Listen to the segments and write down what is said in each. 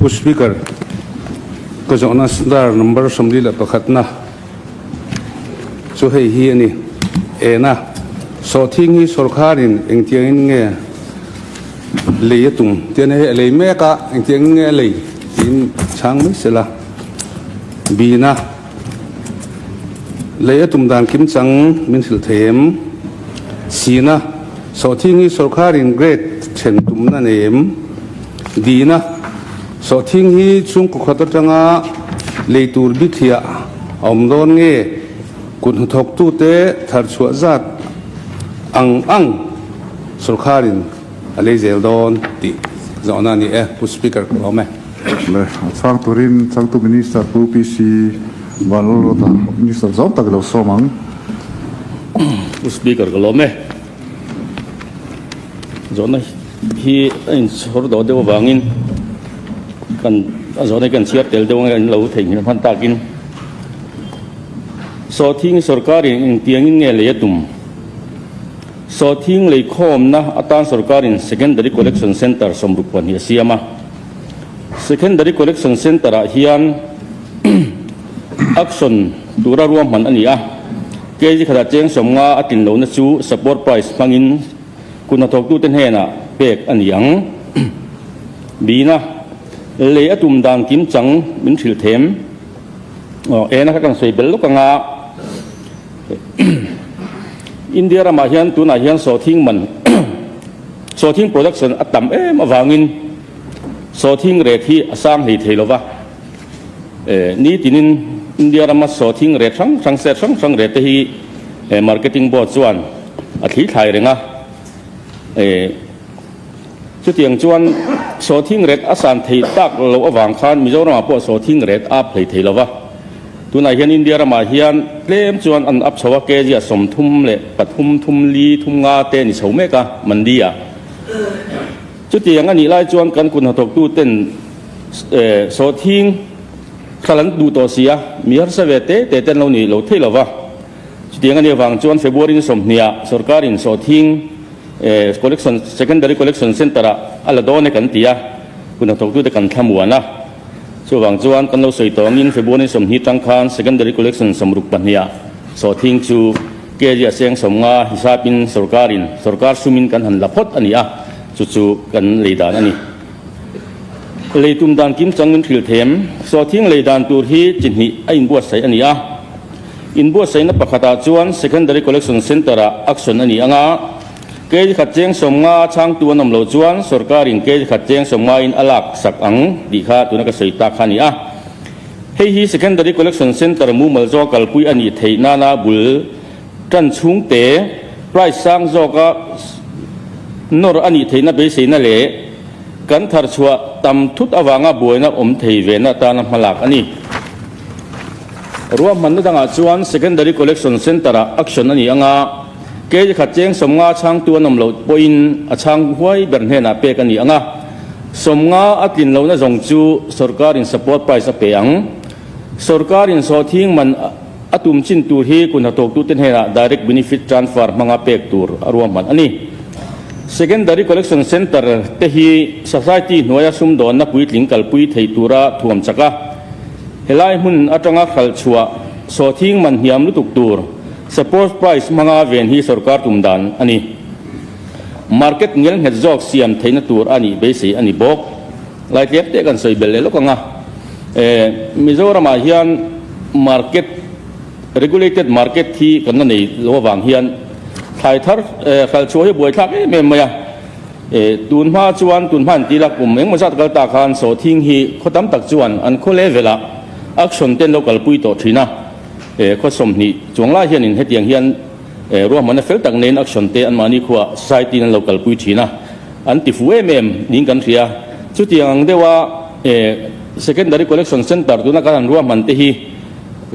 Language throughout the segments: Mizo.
Pu Speaker, ka zawhna star number sawmli leh pakhatna chu hei hi a ni. Ena, sawhthing hi sawrkharin engtiangin nge lei a tum tih a nia. Hei a lei mek a, engtiangin nge a lei? Tiin chhang mai sela. Bina. Lei a tum dan kim chang min hrilh thei em? Sina, Sawhthing hi sorkarin grade then tumna nei em? Dina, Sawhthing hi chhungkaw khat atanga lei tur bithiah a awm dawn nge? Kut hnathawktute thar chhuah zat ang ang sorkarin A lei zel dawn tih zawhna a ni e, Pu Speaker ka awm e. Le a chhang turin changtu Minister Pu PC Vanlalawta Minister zawng tak lo sawm ang. Pu Speaker ka lawm e. Zawhna hi a inchhawr dawn deuh avangin kan a zawhna hi kan chhiar tel deuh anga kan lo theihnghilh hman takin Sawhthing Sorkarin engtiangin nge lei a tum? Sawthing lei khawmna atan sawrkarin Secondary Collection Centre sawmruk pahnih a siam a. Secondary Collection Centre ah hian auction tura ruahman a ni a, kg khatah cheng sawm nga a tlin lohna chu support price hmangin kut hnathawktute hnenah pek a ni ang. Bina lei a tum dan kim chang min hrilh them. Ena kha kan sawi bel lawk anga India ramah hian tunah hian sawthing man, sawthing production, a tam em avangin sawthing ret hi a sang hei thei lo va. Nitinin India rama sawthing ret hrang hrang, set hrang hrang rette hi Marketing Board chuan a thlithlai reng a. Chutiang chuan sawthing ret a san thei tak loh avang khan Mizoramah pawh sawthing ret a phlei thei lo va. Tunah hian India ramah hian tlem chuan an up chho a, kg a sawm thum leh pathum thum li thum nga te a ni chho mek a Mandiah. Chutiang a nih lai chuan kan kut hnathawktu ten sawthing thral an duh tawh si a, mi harsa ve te te te an lo nih loh theih lo va. Chutiang ania vang chuan February-in sawmhniah sorkarin Sawthing Collection Secondary Collection Centre-ah a la dawn e kan ti a, kunhla thawktute kan thlamuan a. Chuvang chuan kan lo sawi tawngin February-in sawmhni tang khan Secondary Collection sawmruk pahniha Sawthing chu kg a seng sawmnga hisapin sorkarin, sorkar sumin kan han la phawt a ni a, chu chu kan lei dan a ni. Lei tum dan kim changin thrilthem Sawthing lei dan tur hi chi hnih a inbuatsaih a ni a. Inbuatsaihna pakhatah chuan Secondary Collection Centre-a action a nih anga, kg khat cheng sawm nga a chhangtu an awm lo chuan sorkarin kg khat cheng sawm ngaiin a lak sak ang tih kha tuna ka sawi tak kha a ni a. Hei hi Secondary Collection Centre mumal zawk a kalpui a nih theih nana bul tan chhungte, price sang zawka nawr a nih theihna beiseina leh kan tharchhuah tam thut avanga buaina awm thei vena atana hmalak a ni. Ruahmanna dangah chuan Secondary Collection Centre-a action a ni ang a, kei khat cheng sawmnga chhangtu an awm lo pawhin a chhang huai ber hnenah pek a ni ang a. Sawmnga a tlin lohna zawng chu sorkarin support price a pe ang. Sorkarin sawhthing man a tum chin tur hi kun hnathawktute hnenah direct benefit transfer hmanga pek tur a ruahman a ni. Secondary Collection Centre te hi society hnuaia sumdawnna puitling kalpui thei tura thuam chak a, Helai hmun atanga khalhchhuah sawthing man hniam lutuk tur Support Price hmanga ven hi sorkar tum dan a ni. Market ngelnghet zawk siam theihna tur a nih beisei a ni bawk. Laitliam teh kan sawi belh leh lawk ang a, Mizoramah hian market, regulated market hi kan la nei loh avang hian thlai thar, khalhchhuah hi a buaithlak em em mai a. E, tun hma chuan tun hman tila kum engmaw zat kal ta khan Sawhthing hi khaw tam tak chuan an khaw levelah action ten lo kal pui tawh thin a. E, khaw sawmhnih chuang lai hianin hetiang hian e, ruahmanna fel tak nehin action te anmahni khuaa society-in an lo kal pui thin a, an ti fuh em em niin kan hria. Chutiang ang deuha e, secondary collection centre tuna kan han ruahman te hi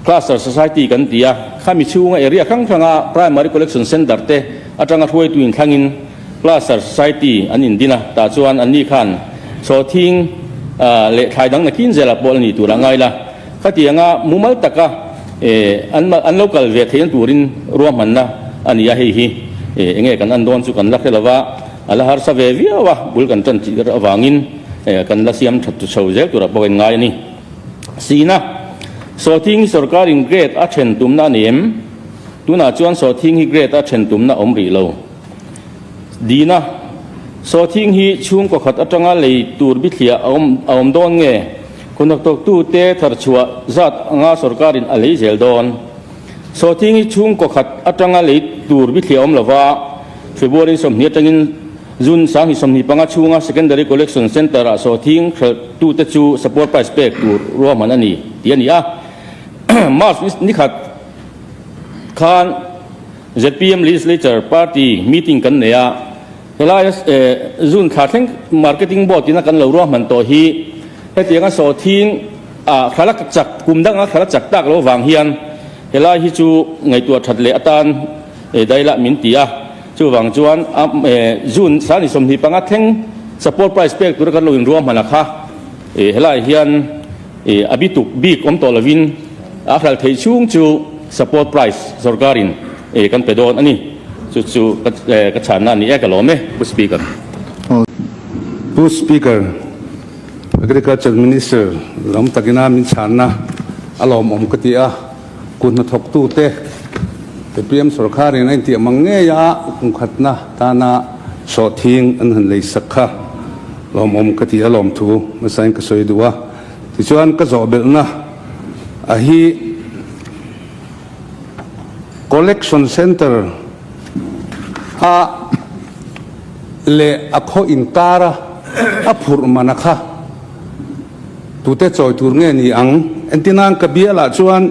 cluster society kan ti a, khami chhunga area hrang hranga primary collection centre te atanga hruaituin thlangin Plaster Society an indin a, tah chuan anni khan chaw thing leh thlai dang nakin zela pawh la ni tur a ngai la, khati anga mumal taka an lo kal ve theih na turin ruahmanna a ni a, hei hi eng nge kan an dawn chu kan la hre lova, a la harsa ve viau a, bul kan tan tih avangin kan la siam that tha chho zel turah pawh a inngai a ni. Sina, Chaw thing hi sorkarin grade a then tumna a ni em? Tunah chuan chaw thing hi grade a then tumna a awm rih lo. Dina, Saw thing hi chhungkaw khat atanga lei tur bithliah a awm a awm dawn nge? Khawhnak tawktute tharchhuah zat anga sorkarin a lei zel dawn. Saw thing hi chhungkaw khat atanga lei tur bithliah a awm lova, February sawmhnih atangin June sanghnih sawmhnih panga chhunga Secondary Collection Centre-ah saw thing hralhtute chu support price pek tur ruahman a ni tih a ni a, March nikhat khan zpm Legislature Party Meeting kan nei a, helai a June thla thleng Marketing Board ina kan lo ruahman tawh hi hetiang a sawthiing a thlala chak kum dang a thlala chak tak lo vang hian helai hi chu ngaihtuah that leh atan daihlah min ti a, chuvang chuan June thla ni sawmhnih panga thleng Support Price pek tura kan lo inruahman a kha helai hian. A bituk bik awm tawh lovin a hral theih chhung chu support price zawrkarin kan pe dawn a ni. Chu chu ka chhanna a ni e ka lawm e Pu Speaker. Pu Speaker, Agriculture Minister lam takina min chhanna a lawmawm ka ti a. Kut hnathawktute, APM sorkarin a intiah mang ngei a, kum khatna tana sawhthing an han leisak kha lawmawm ka ti a lawm thu hmasain ka sawi duh a. Tichuan ka zawhbelhna a hi Collection Centre a leh a khaw inkara a phurh mana kha, Tute chawi tur nge ni ang? Entina'n ka bialah chuan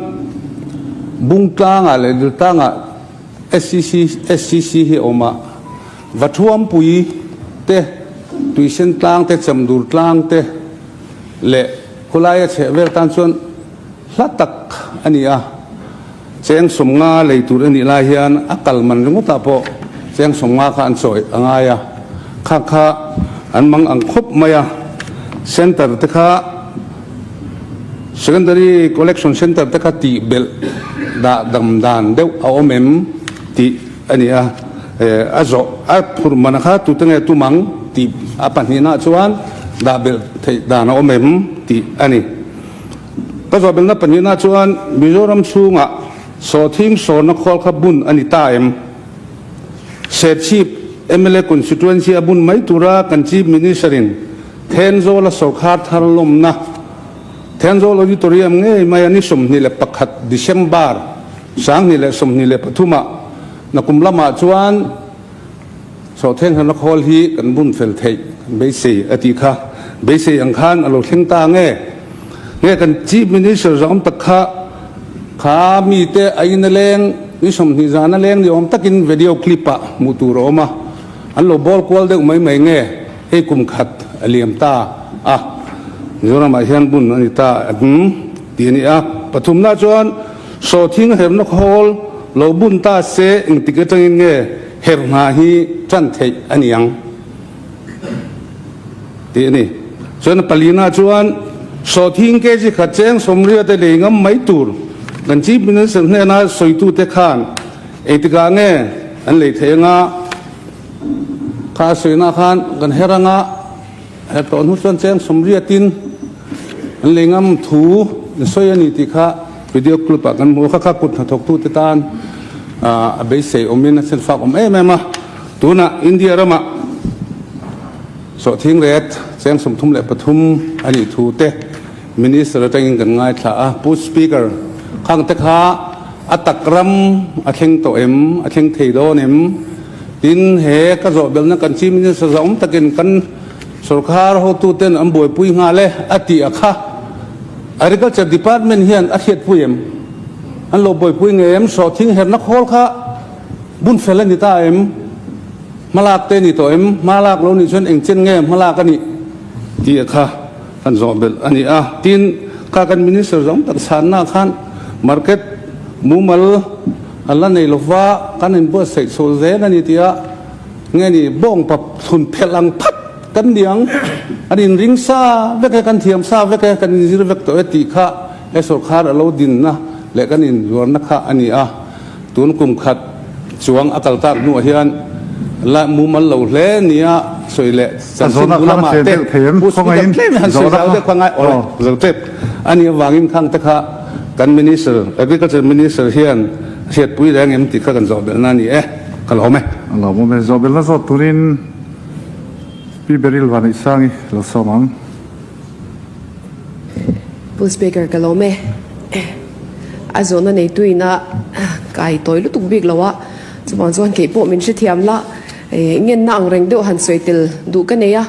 bung tlangah leh lirh tangah SCC, SCC hi a awm a, va thuampui te, tuisentlangte, chemdurtlang te leh khulai a chheh vel tan chuan, hla tak a ni a, Chengsumnga lei tur a nih lai hian a kal man ringawtah pawh Chengsumnga kha an chawih a ngai a, khak kha an mang ang khawp mai a, Centre te kha Secondary Collection Centre te kha tih belh dah dam dan deuh a awm em tih a ni a, a zawh a phurh manah kha tute nge tum ang tih a pahnihna ah chuan dah belh theih dan a awm em tih a ni. Ka zawhbelna pahnihna chuan Mizoram chhunga sawhthim sawrna khual kha bun a ni ta em? Serchhip mla constituency a bun mai tura kan Chief Minister-in Thenzawla sawrkhar thar lawmna Thenzawla auditorium ngei maia ni sawmhnih leh pakhat December sanghnih leh sawmhnih leh pathuma na kum lamah chuan Chawhthleng hna na khawl hi kan bun fel theih beisei a tih kha beisei ang khan a lo thleng ta nge? Nge kan Chief Minister zawng tak kha kha mite a in a leng i sawmhnih zan a leng ni awm takin vedio clip ah hmuh tur a awm a, an lo bawl kual deuh mai mai nge? Hei kum khat a liam ta a, Mizoram ah hian bun a ni ta em? tih a ni a. Pathum na chuan. Sawthing herhna khawl lo bun ta se engtik atangin nge herh hna hi ṭan theih a niang? tih a ni. Chuan a pali na chuan sawthing kg khat che eng sawmriat te lei ngam mai tur kan chief minister hnena sawitu te khan engtik ah nge an lei thei anga? Kha a sawi na khan kan herh anga. He tlawh hnu chuan cheng sawmriatin an lei ngam thu in sawi a ni tih kha video clip ah kan hmu a, kha kha kut hnathawk tu te tan a beisei awmin a chhen fak awm em em a, tunah India ramah sawhthing ret cheng sawmthum leh pathum a nih thu te, Minister atangin kan ngaithla a, Pu Speaker, khangte kha a tak ram a thleng tawh em, a thleng thei dawn em? Tin, he ka zawhbelhna kan Chief Minister zahawm takin kan sorkar hotuten an buaipui nghal e a tih a kha Agriculture Department hian a hriatpui em? An lo buaipui nge em? Sawhthing herhna khawl kha bun fel a ni ta em? Hmalak te a ni tawh em? Hmalak lo nih chuan engchen nge hmalak a nih? tih a kha. Kan zawh belh a ni a. Tin, kha kan Minister zawng tak chhannaah khan Market mumal a la nei lova kan in buatsaih chhuah zel a ni tia nge ni bawng pap thlun phelh ang phat kan ni ang. Kan in ring sa vek e, kan thiam sa vek e, kan in zir vek tawh e tih kha he sorkar a lo dinna leh kan in zuarna kha a ni a. Tun kum khat chuang a kal tak hnuah hian la mumal lo hle nia sawi leh chanchin bu lama te Pu Speaker tlem a han sawi zau deuh kha ngai aw le zo tep a nih avangin khang te kha kan Minister Agriculture Minister hian hriatpui reng em tih kha kan zawhbelh na a ni e ka la awm e. A la awm e zawhbelna zawt turin Pi Beryl Vanaihsangi lo sawm ang. Full speaker ka lawm e. A zawhna neitu ina kai tawi lutuk bik lo a. Chuvang chuan kei pawh min hrethiam la. Eh, ngenna ang reng deuh han sawi tel duh ka nei a.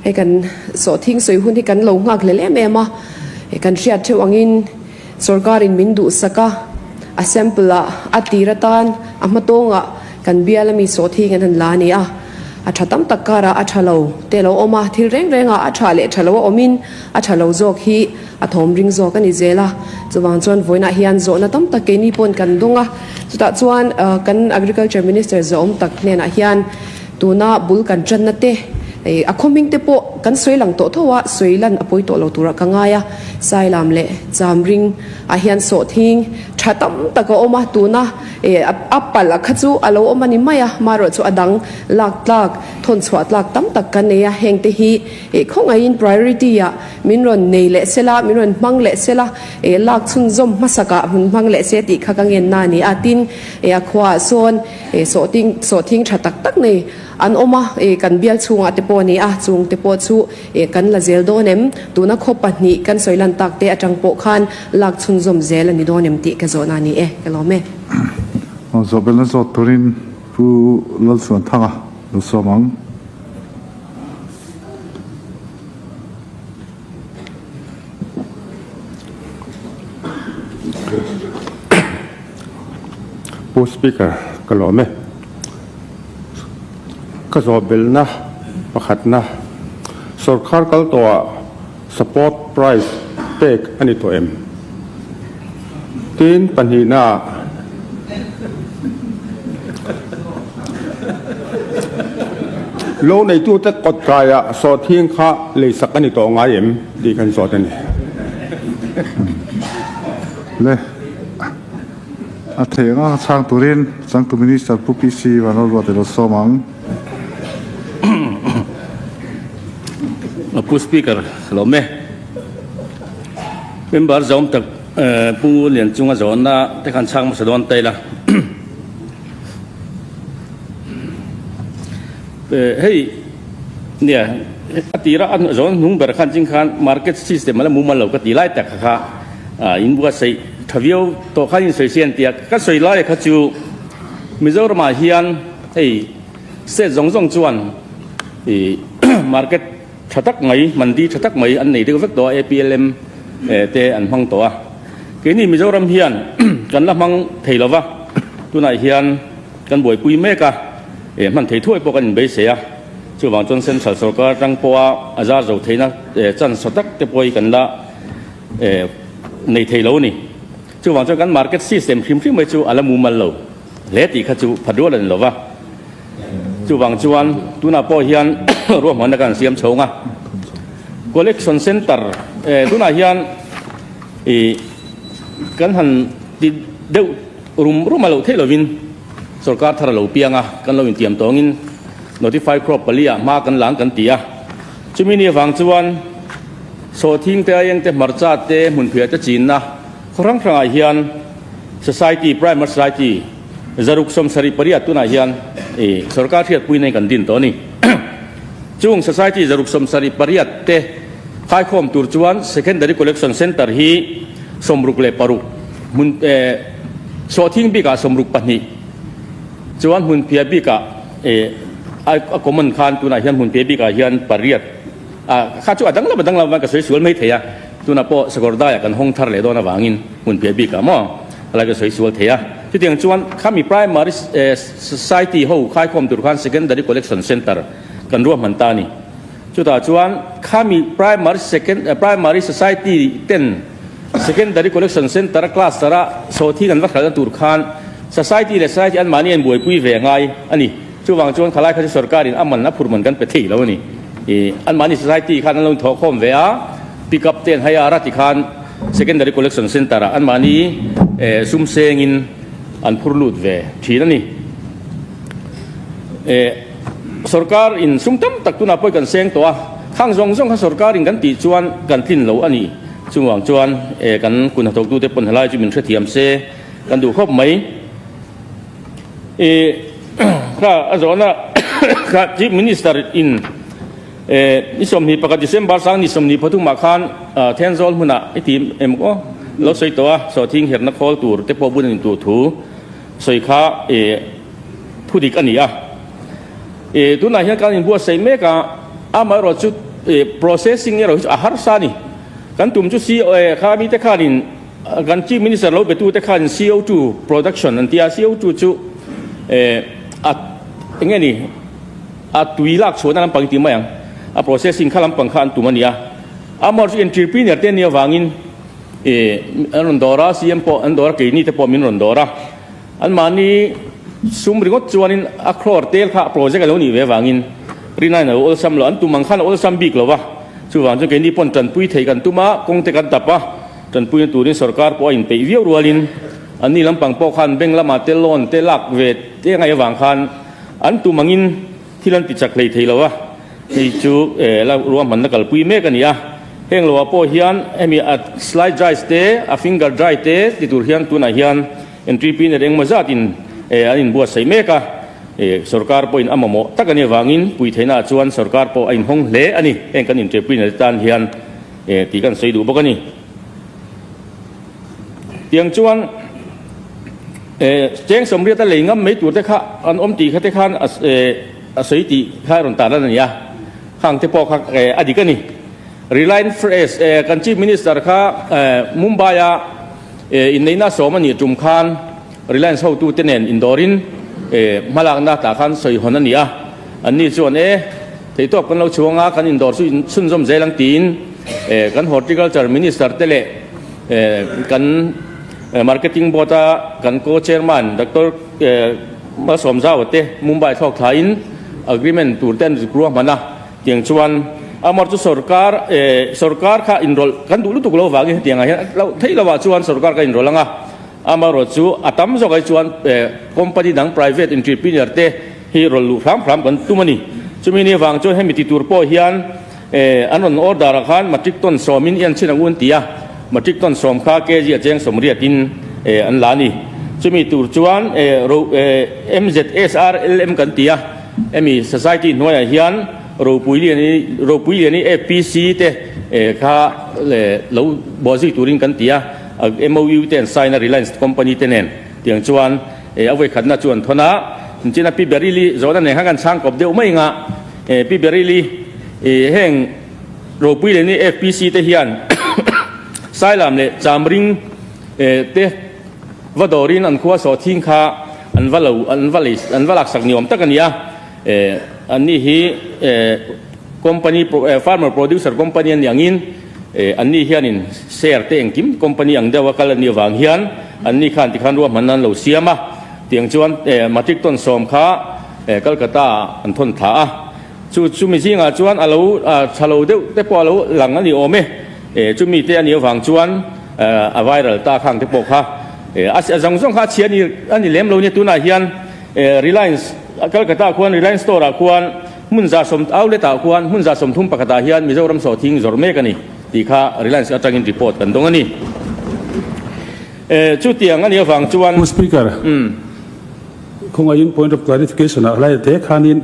Hei kan sawhthing sawi hun hi kan lo nghak hlel em em a. Kan hriat theuh angin. Sorkarin min duhsak a, a sample ah a tir atan a hmatawng ah kan bial ami sawt hi kan han la a ni a, a tha tam tak kar ah a tha lo te lo awm a, thil reng reng ah a tha leh tha lo a awm in a tha lo zawk hi a thawm ring zawk a ni zel a, chuvang chuan vawiin ah hian zawhna tam tak keini pawn kan dawng a, chutah chuan kan agriculture minister zawhawm tak hnenah hian. Tuna bul kan tanna te, a khawming te pawh kan sawi lang tawh tho a, sawi lan a pawi tawh lo turah ka ngai a. Sailam leh Chamring ah hian sawhthing tha tam tak a awm a, tuna a palh ah kha chu a lo awm a ni mai a, maruah chu a dang lak tlak, thawn chhuah tlak tam tak ka nei a, heng te hi khawngaih in priority ah min rawn nei leh se la, min rawn hmang leh se la, lak chhunzawm hmasak ah hun hmang leh se tih kha ka ngen na a ni a, tin a khua ah sawn. E sawh ting sawh thing tha tak tak nei an awm a, e kan bial chhungah te pawh a ni a, chung te pawh chu e kan la zel dawn em? Tuna khaw pahnih kan sawi lan tak te atang pawh khan lak chhun zawm zel a ni dawn em tih ka zawhna a ni e, ka lawm e. Aw zawh belna zawt turin Pu Lalsuanthanga lo sawm ang. Pu speaker ka lawm e ka zawhbelna pakhatna sawrkhar kal tawha support price pek a ni tawh em tin pahnihna ah lo neitute kawt kai ah sawrthing kha leisak a ni tawh ngai em tih kan zawt a ni. le a theng a chhang turin changtu minister Pu Pi Sii Vanrolrua ti lo sawm ang. Pu speaker hlawm e member zawm tak Pu Lianchunga zawnna te khan chhang hmasa dawn ta ila hei nia ka tira a zawn hnung ber khan ching khan market system ala mumal lo ka ti lai tak kha kha. Ahh in bua saih tha viau tawh khan in sawi si an ti a, ka sawi laia kha chu Mizoramah hian hei state zawng zawng chuan ihh market tha tak mai mandi tha tak mai an nei deuh vek tawh a APLM te an hmang tawh a, keini Mizoram hian kan la hmang thei lo va, tunah hian kan buaipui mek a, eh hman thei thuai pawh kan inbeiseh a, chuvang chuan central sawrkar atang pawha a zar zo theihna chance tha tak te pawh hi kan la. Nei thei lo a ni. Chuvang chuan kan market system hrim hrim mai chu a la mumal lo hle tih kha chu phat rual a ni lo va. Chuvang chuan tunah pawh hian ruahmanna kan siam chhung a. Collection centre tunah hian kan han ti deuh rum rum a lo theih lovin sorkar thar a lo piang a, kan lo intiam tawngin notify crop pali ah hma kan lang kan ti a. Chumi nih vang chuan sawhthing te, aieng te, hmarcha te, hmunphiah te chinna khaw hrang hrang ah hian society, private society, zaruk sawm sarih pariat tun ah hian sorkar hriatpui nai kan din tawh a ni. Chung society zaruk sawm sarih pariat te haikhawm tur chuan secondary collection centre hi sawmruk leh paruk hmun sawhthing bik ah sawmruk pahnih chuan hmunphiah bik ah Eh, a common khan tunah hian hmun te bikah hian pariat a kha chu a dang lam a dang lam avang ka sawi sual mai thei a, tunah pawh Sakhawrdaiah kan hawng thar leh dawn avangin hmun piah bikah maw a la ka sawi sual thei a. Chutiang chuan khami Primary Society ho khai khawm tur khan Secondary Collection Centre kan ruahman ta a ni. Chutah chuan khami Primary Second Primary Society ten Secondary Collection Centre Cluster a saw thil an va hralhna tur khan Society leh Society anmahni a in buaipui ve a ngai a ni. Chuvang chuan khalai kha chu sorkarin a man a phurhman kan pe thei lo a ni. Anmahni Society khan an lo inthawk khawm ve a, Pickup te an hai a, a ra ti khan Secondary Collection Centre ah anmahni sumsengin an phur lut ve thin a ni. Sorkar in sum tam tak tunah pawh i kan seng tawh a, khang zawng zawng kha sorkar in kan tih chuan kan tlin lo a ni. Chuvang chuan e kan kun hnathawk tu te pawn helai chu min hrethiam se kan duh khawp mai. I kha a zawhna kha Chief Minister in e ni sawmhnih pakhat December sang ni sawmhnih pathum ah khan Thenzawl hmun ah i ti em aw lo sawi tawh a, sawhthing herhna khawl tur te pawh bun a ni tur thu sawi kha e. Thu dik a ni a. E, tunah hian kan inbuatsaih mek a, amaherawhte chu e, processing erawh hi chu a harsa a ni. Kan tum chu CO, e, kha mite khanin kan Chief Minister lo betute khanin CO two production an ti a, CO two chu e, a, eng nge ni, a tui lakchhuahna lampang i tih mai ang, a processing kha lampang kha an tum a ni a. Amaherawhte chu entrepreneur te nia vangin e, an rawn dawr a, CM pawh an dawr a, keini te pawh min rawn dawr a. Anmahni sum ringawt chuanin a khlawr tel kha a project a lo nih ve avangin Rinain a lo awlsam lo. An tum ang khan a awlsam bik lo va, chuvang chuan keini pawn tanpui thei kan tum a, kawngte kan tap a, tanpuina turin sorkar pawh a inpeih viau rualin anni lampang pawh khan bank lamah te loan te lak ve te ngai avang khan an tum angin, Thil an ti chak hlei thei lo a, hei chu eh la ruahmanna kalpui mek a ni a. Heng lo ah pawh hian hemi a slide drives te, a finger drive te ti tur hian tunah hian entry pin er engemaw zat in eh an in buatsaih mek a. Eh sorkar pawh in a mamawh tak a ni avangin pui theihna ah chuan sorkar pawh a in hawng hle a ni, heng kan inṭepui nel tan hian eh tih kan sawi duh bawk a ni. Tiang chuan cheng sawmriat a lei ngam mai tur te kha an awm tih kha te khan a sawi tih kha rawn tan a ni a, kha ang te pawh kha a dik a ni. Reliance Fresh kan Chief Minister kha Mumbai-a inneihna sawm a nih tum khan, Reliance hotu te nen indawrin e hma lakna ta khan sawi hawn a ni a, an ni chuan e theitawp kan lo chhu anga kan indawr chu inchhunzawm zel ang tiin e kan Horticulture Minister te leh e kan Marketing Board a kan Co-Chairman Doctor Mal Sawmzau te Mumbai thlawk thlain agreement tur te an zuk ruah hman a tiang chuan amarawt chu sawrkar e sawrkar kha inrawlh kan duh lutuk lo vangin hetiang ah hian theih lovah chuan sawrkar kan inrawlh anga Amaherawhchu chu a tam zawk ai chuan company dang private entrepreneur te hi rawn luh hram hram kan tum a ni. Chumi ni vang chuan hemi ti tur pawh hian an rawn order a khan matric ton sawm in i an chhin ang u an ti a, matric ton sawm kha kg a cheng sawmriat in an la a ni. Chumi tur chuan ro MZSRLM kan ti a, hemi society hnuai ah hian ropui lian i ropui lian i APC te kha lo buaizui tur in kan ti a. A MOU te an sign a Reliance company te nen tiang chuan a vawikhatna chu an thawn a, chin a Pi Berili zawh na nen khan kan chhang kawp deuh mai anga Pi Berili heng ropui leh ni FPC te hian Sailam leh Chamring te va dawr in an khua sawh thing kha an va lo an va lei an va laksak ni awm tak a ni a, an nih hi company farmer producer company a ni ang in, E, anni hianin share te engkim company ang deuha kal anih avang hian anni khan tikhan ruahmanna an lo siam a, tiang chuan e, matic tawn sawm kha e, Calcutta ah an thawn thla a. Chu chumi zingah chuan a lo a tha lo deuh te pawh a lo lang a ni awm e. E, chumi te anih avang chuan e, a viral ta khang te pawh kha e, a a zawng zawng kha a chhia a ni a ni lem lo nia. Tunah hian e, Reliance Calcutta khuan Reliance store ah khuan Hmun zahsawm outlet ah khuan hmun zahsawm thum pakhat ah hian Mizoram saw thing zawrh mek a ni tih kha Reliance atang in report kan dawng a ni. Chu tiang a nih avang chuan. Pu Speaker, khawngei in point of clarification ah hlai te khan in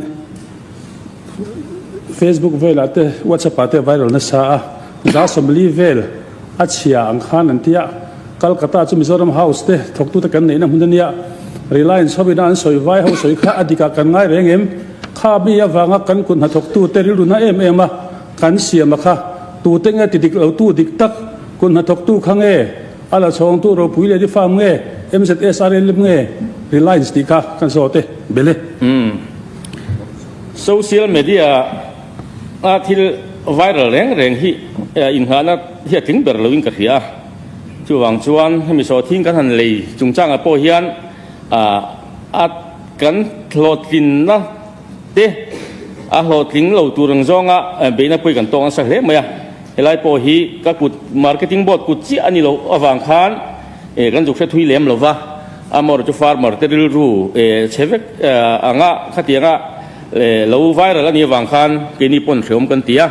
Facebook vel ah te WhatsApp ah te viral nasa a, zahsawm li vel. A chhia ang khan an ti a, Calcutta chu Mizoram House te thawktute kan neihna hmun a nia, Reliance ho ina an sawi vai ho sawi kha a dik ah kan ngai reng em? Kha mi avanga kan kut hna thawktute rilru na em em a kan siam a kha, tute nge ti dik lo tu dik tak, kut hna thawktu kha nge, a la chhawng tu ropui leh ni farm nge, MZSRLM nge, Reliance tih kha kan zawt e, bele. Social media ah. A thil viral reng reng hi inhahna hi a tling ber loin ka hria a, chuvang chuan hemi sawthiin kan han lei chungchangah pawh hian a kan hlawhtlinna te a hlawhtling lo tur ang zawnga beihna pawhin kan tawng nasa hle mai a, helai pawh hi ka kut marketing board kut chiah a ni loh avang khan kan zuk hrethui lem lova, amaw rawh chu farmer te rilru chhe vek ang a khatianga. E lo viral a nih avang khan keini pawn hreawm kan ti a,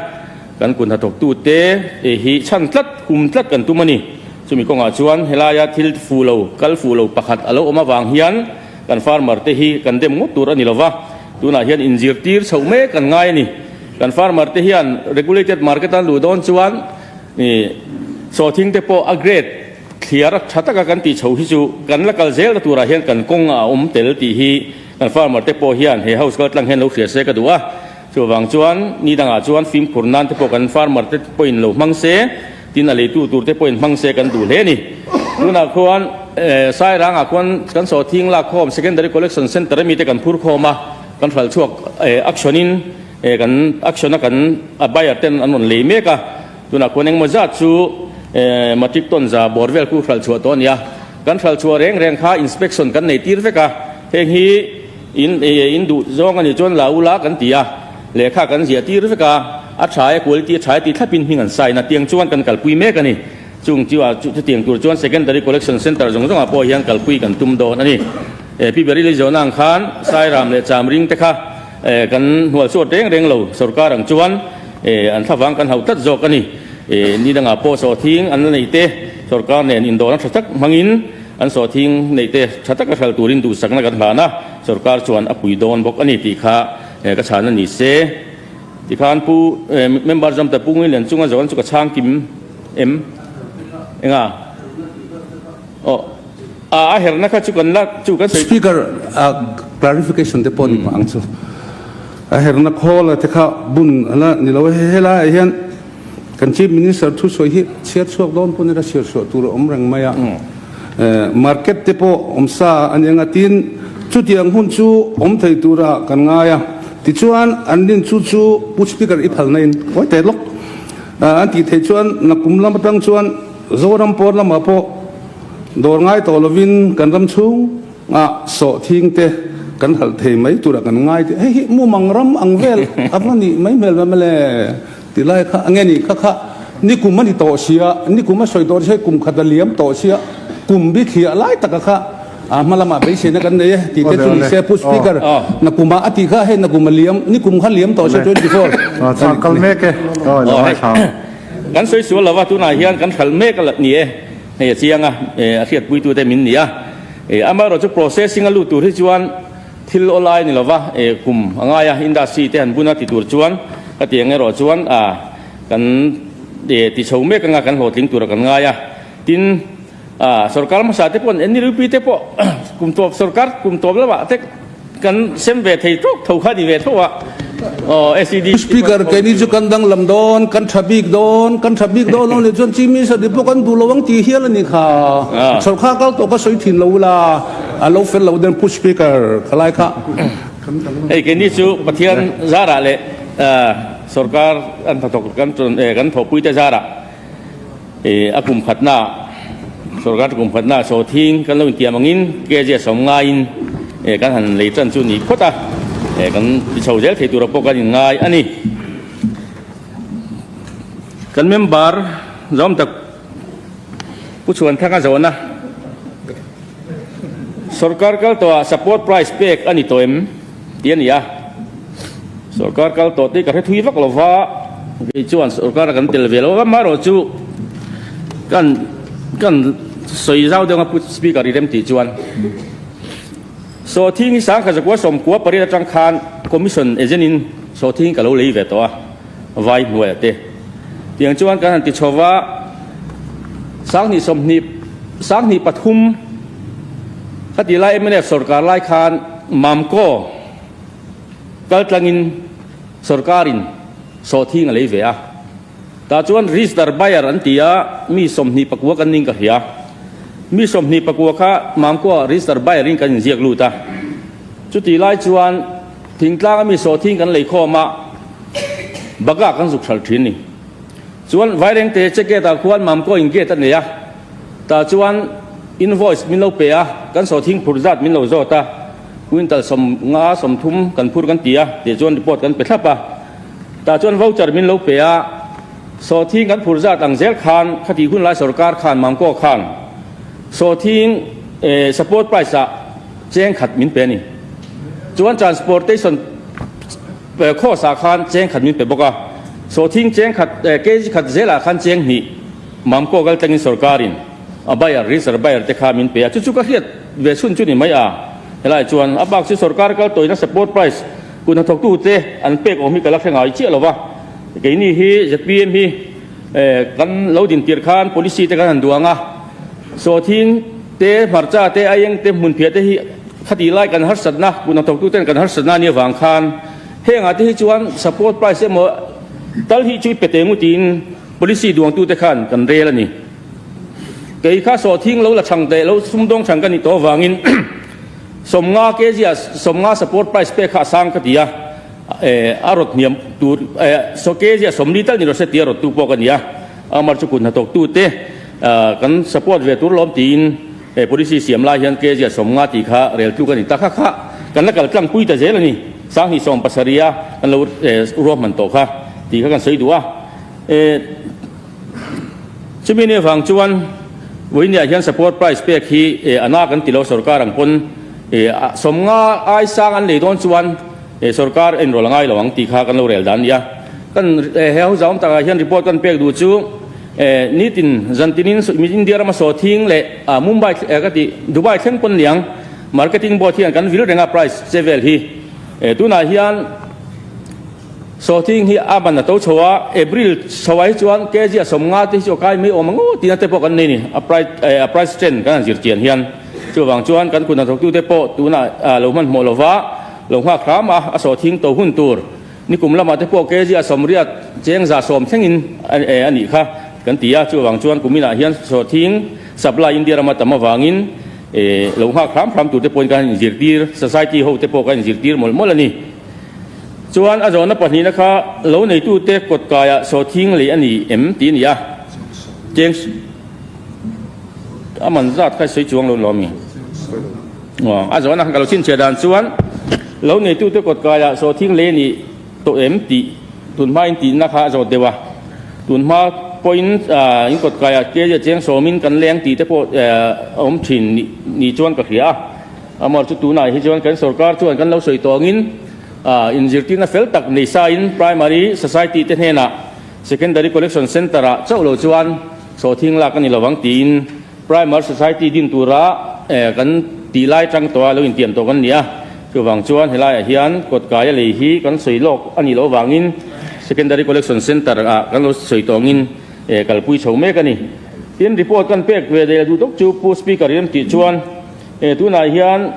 kan kut hnathawk tu te e hi chhan tlat, hum tlat kan tum a ni. Chumi kawngah chuan helaia thil fuh lo, kal fuh lo pakhat a lo awm avang hian kan farmer te hi kan dem ngawt tur a ni lo va, tunah hian in zirtir chhoh mek kan ngai a ni. Kan farmer te hian regulated market a luh dawn chuan e sawthing te pawh a grade thliar a tha taka kan tih chho hi chu kan la kal zel ta turah hian kan kawng a awm tel tih hi, Kan farmer te pawh hian he house kal tlang hian lo hria se ka duh a, chu avang chuan ni dangah chuan fimkhur nan te pawh kan farmer te pawhin lo hmang se, tin a leitu tur te pawhin hmang se kan duh hle a ni. Tunah khuan Sairanga khuan kan sawhthing lak khawm secondary collection centre mite kan phur khawm a, kan hral chhuak action in kan action a kan a buyer ten an rawn lei mek a, tunah khuan engmaw zat chu matic tawnza bawr vel chu hral chhuah tawh a ni a. Kan hralchhuah reng reng kha inspection kan nei tir vek a, heng hi in in duh zawng a nih chuan la u la kan ti a, lehkha kan ziah tir vek a, a tha e quality a tha e tih thlap in hming an sign a, tiang chuan kan kalpui mek a ni. Chung chu chu chutiang tur chuan secondary collection centre zawng zawng ah pawh hian kalpui kan tum dawn a ni. Pi Berry leizawnah ang khan Sairam leh Chamring te kha, Kan hnual chhuat reng reng lo sorkar ang chuan an thlavang kan hauh tlat zawk a ni. Ni dangah pawh sawthing an la nei te sorkar nen indawhna tha tak hmangin an sawthing nei te tha taka hral turin duhsakna kan hlan a, sorkar chuan a pui dawn bawk a ni tih kha ka chhan a ni se. Tikhan Pu Member Zamter Pu Ngui Lian Chunga zawn chu ka chhang kim em enga? Speaker a clarification te pawh ni vang chu a herna khawl a te kha bun ala ni lo a, helaiah hian kan Chief Minister thu sawi hi chhiar chhuak dawn pawh nira chhiar chhuah tur a awm reng mai a, market te pawh awm sa a ni anga tin chutiang hun chu awm thei tura kan ngai a, tichuan an din chu chu Pu Speaker i phalna in kawite lawk an tih theih chuan na kum lam atang chuan. Zoram pawr lamah pawh dawr ngai tawh lovin kan ram chhungah sawh thing te kan halh thei mai turah kan ngai tih hei hi mumang ram ang vel a va nih mai hmel ram ele ti lai kha ange ni kha kha ni kum a ni tawh sia ni kum a sawi tawh sia kum khat a liam tawh sia kum bithliah lai taka kha a hma lamah beiseina kan nei e ti te chu ni se pu speaker na kum a a tih kha hei na kum a liam ni kum kha liam tawh sia twenty four a ni kal mek e. Kan sawi sual lo a, tunah hian kan hral mek a ni e, hei a chiang a, a hriatpuitute min ni a. Amaherawhchu processing a lut tur hi chuan thil aw lai a ni lo va, kum a ngai a, industry te han bun a ti tur chuan ka ti ang erawh chuan kan ti chho mek anga kan hlawhtling tura kan ngai a, tin, A sorkar hmasa te pawn NLP te pawh kum tawp sorkar kum tawp lo ah te kan sem ve thei tawk tho kha ni ve tho a aw SED hi Speaker kei ni chu kan danglam dawn kan tha bik dawn kan tha bik dawn lo ni chuan chief minister te pawh kan duh lo ang tih hial a ni kha sorkar kal tawh ka sawi thin lo ula a lo fel lo dawn pu speaker kha lai kha kan danglam hei kei ni chu pathian zarah leh sorkar an tha tawk kan tawh eh kan thawhpui te zarah A kum khatna ah sorkar te kum khatna ah saw thing kan lo in tiam ang in kg a sawm ngai in kan han lei tan chu ni phawt a kan ti chho zel thei tur ah pawh kan in ngai a ni. Kan member zawm tak Pu Chhuanthanga zawhna sorkar kal tawh ah support price pek a ni tawh em? Tih a ni a, sorkar kal tawh te ka hre thui vak lo va, kei chuan sorkar a kan tel ve lo va, amaherawh chu kan kan sawi zau deuh a put speaker i rem tih chuan Sawhthing hi Sangha Zakua Sawmkua Pariat atang khan commission agent in Sawhthing ka lo lei ve tawh a, vai hnuai a te tiang chuan kan han ti chho va, Sanghnih sawmhnih Sanghnih pathum ka tih lai MNF sorkar lai khan, Mamkaw kaltlangin sorkarin sawhthing a lei ve a, tah chuan Rizdar Bayer an ti a, mi sawmhnih pakua kan ning ka hria. Mi sawmhnih pakua kha Mamkaw Rizdar Bayer in kan inziak lut a. Chutih lai chuan Thingtlanga mi sawhthing kan lei khawm a, Baga kan zuk hralh thin a ni. Chuan Vairengte che gate ah khuan Mamkaw in gate a nei a. Tah chuan invoice min lo pe a, kan sawthing phur zat min lo zawt a, quintal sawm nga sawm thum kan phur kan ti a, tih chuan report kan pe thlap a. Tah chuan voucher min lo pe a, sawthing kan phur zat ang zel khan khati hunlai sawrkar khan Mangkaw khan sawthing support price ah cheng khat min pe a ni. Chuan transportation cost ah khan cheng khat min pe bawk a, sawthing cheng khat kg khat zel ah khan cheng hnih. Mam Kaw Gal Tlangin Sorkarin a buyer hi zar buyer te kha min pe a, chu chu ka hriat ve chhun chu ni mai a, helai chuan a bak chu sorkar kal tawina support price kun ha thawktu te an pek awm hi ka la hre ngai chiah lova, keini hi zpm hi kan lo din tir khan policy te kan han duang a, saw thing te hmarcha te a eng te hmunphiah te hi khati lai kan harsatna kun ha thawktu ten kan harsatna nia vang khan hengah te hi chuan support price emaw tal hi chu i pe teng u tiin, Policy duangtute khan kan rel a ni. Kei kha sawhthing lo la chhang teh lo, sumdawng chhang ka nih tawh avangin sawmnga kg ah sawmnga support price pek kha a sang ka ti a, a rawt hniam tur kg ah sawmli tal ni rawh se tih a rawt tu pawh ka ni a, amar chu kut hna tawk tute kan support ve tur lawm tiin policy siam lai hian kg ah sawmnga tih kha rel tluk a ni. Takha kha kan la kal tlangpui ta zel a ni, sanghnih sawm pasarih a kan lo ruahman tawh kha tih kha kan sawi duh a. E chumi nen vang chuan Voinia hian support price pek hi e ana kan tilo sorkar ang pawn e sawmnga aisang an nei dawn chuan e sorkar enrawl a ngailo ang tih kha kan lo rel dan nia kan e he ho zawm takah hian report kan pek duh chu e nitin zantinin India rama saw thing leh a Mumbai e ka tih Dubai thleng pawn niang marketing board hian kan vil renga price che vel hi e tunah hian Sawhting hi a man a to chho a, April chhoa hi chuan kg a sawm nghal te hi chu a kai mai awm ang aw tihna te pawh kan nei ni, a price a price trend kan han zir chian hian. Chuvang chuan kan kutna thawktu te pawh tuna a lo hmanhmawh lo va, lo nghak hram a, a sawhting to hun tur nikum lamah te pawh kg a sawm riat cheng za sawm thlengin a nih kha kan ti a, chuvang chuan kumin ah hian sawhting supply India rama tam avangin lo nghak hram hram tur te pawhin kan han inzirtir, society ho te pawh kan inzirtir mawlh mawlh a ni. Chuan a zawhna pahnihna kha lo neitute kawt kaiah saw thing leh a ni em tih a ni a, James a man zat kha i sawi chuang lo lo ami? Aw, a zawhna kha ka lo chhinchhiah dan chuan lo neitute kawt kaiah saw thing leh a ni tawh em tih tun hmain tihna kha a zawt deuh a, tun hma pawhin in kawt kaiah kei a cheng sawmin kan leng tih te pawh a awm thin ni chuan ka hria a. Amaw chu tunah hi chuan kan sorkar chuan kan lo sawi tawngin in zirtirna fel tak nei sain Primary Society te hnenah Secondary Collection Centre ah chauh lo chuan sawhthing lak a ni lovang tiin Primary Society din tura kan tih lai atang tawha lo intiam tawh kan ni a. Chuvang chuan he laiah hian kawtkaia lei hi kan sawi lawk a nih loh vangin Secondary Collection Centre ah kan lo sawi tawngin kalpui chho mek a ni. Tin report kan pek ve dei la duh tawk chu Pu Speaker i remtih chuan, Hei tunah hian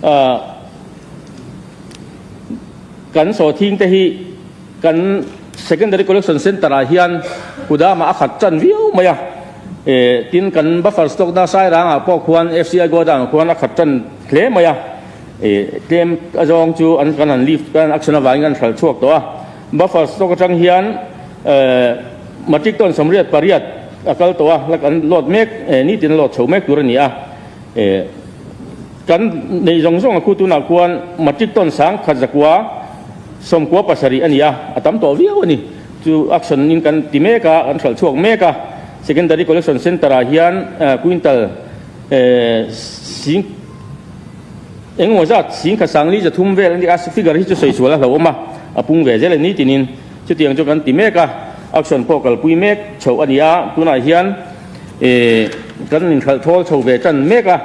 ah kan sawthing te hi kan Secondary Collection Centre ah hian Kudama a khat tan viau mai a. Eh tin kan buffer stock na Sairang ah pawh khuan FCI Godown ah khuan a khat tan hle mai a. Eh tlem azawng chu an kan han lift kan action avangin kan hral chhuak tawh a. Buffer stock atang hian. Ehh, matic tawn samriat pariat a kal tawh a, la kan lawt mek eh, nitin a lawt chho mek tur a ni a. Ehh, kan neih zawng zawng a khu tunah khuan matic tawn sang khat zakua sawmkua pasarih a ni a, a tam tawh viau a ni. Chu action in kan ti mek a, kan hralh chhuak mek a, Secondary Collection Centre ah hian ehh quintal ehh sing eng emaw zat sing khat sanglei za thum vel a ni a, figure hi chu sawi sual a hlauhawm a, a pung ve zel e, nitinin. Chutiang chu kan ti mek a, action pawh kalpui mek chhoh a nia, tunah hian kan inhlhalhthawl chho ve tan mek a.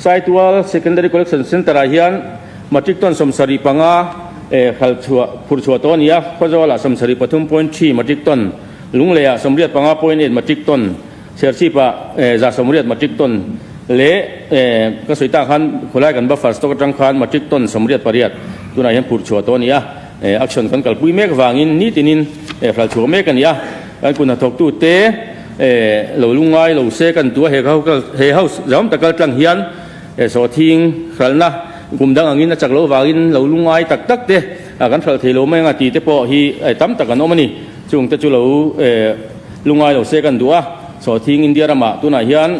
Saitual Secondary Collection Centre ah hian Matric tawn sawmsarih panga hlal chhuah, phur chhuah tawh a nia, Khawzawl-ah sawmsarih pathum point three Matric tawn, Lunglei-ah sawmriat panga point eight Matric tawn, Serchhip-ah za sawmriat Matric tawn leh ka sawi ta khan khawlai kan Buffers tawk atang khan Matric tawn sawmriat pariat tunah hian phur chhuah tawh a nia. E action kan kalpui mek vangin nitin in e hral chhuak mek a ni a, kan kun hnathawk tu te e lo lung ngai lo se ka duh a he ho kal he ho zawm ta kal tlang hian e saw thing hral na kum dang angin a chak lo vangin lo lung ngai tak tak te a kan hral thei lo mai anga ti te pawh hi e tam tak an awm a ni chung te chu lo e lung ngai lo se kan duh a saw thing India ramah tunah hian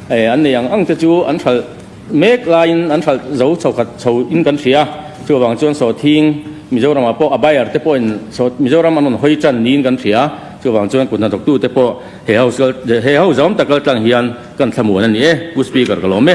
e an nei ang ang te chu an hral Mek laiin an hralh zo chho khat chho in kan hria. Chu avang chuan sawtthing Mizoramah pawh a buyer te pawhin sawt Mizoram an rawn hawi tan niin kan hria. Chu avang chuan kut hnathawktu te pawh he ho zawm tak laltlang hian kan thla muan a ni e, Pu Speaker ka lawm e.